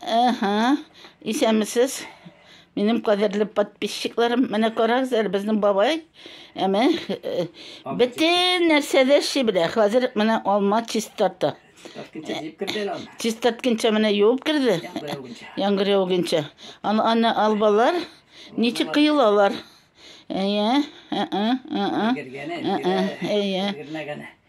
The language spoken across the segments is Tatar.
Әһә, исәнмесез. Минем кадерле подписчикларым, менә карагыз әле безнең бабай. Әмә э, бөтен нәрсәдә ши белә. Хәзер менә алма чистарта. Чистартканча менә юып керде. Яңгыр яугынча. Аны албалар ничек кыйлалар? Әйе, ә-ә, ә-ә. Әйе.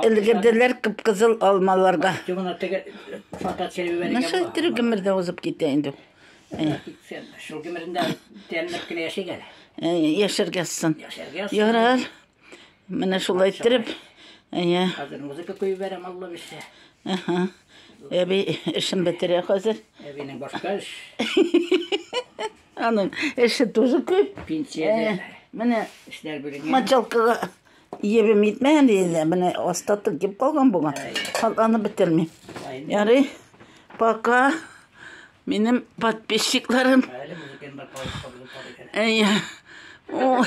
Өлгерделәр кып-кызыл алмаларга. Наша тере гомер дә узып китә инде. Шул гомерендә тәмләп кенә яшик әле. Яшәргә сын. Ярар. Менә шулай иттереп. Әйе. Хәзер музыка куеп бәрәм, Алла бирсә. Аха. Әби эшен бетерә хәзер. Әбинең башка эш. Аның эше тоже күп. Пенсия. Менә эшләр бүлегенә. Мочалкага Ебем итмәгән дигәндә, менә аста тыгып калган булган. Катланып бетерми. Ярый. Пока. Минем подписчикларым. Әйе. Ой.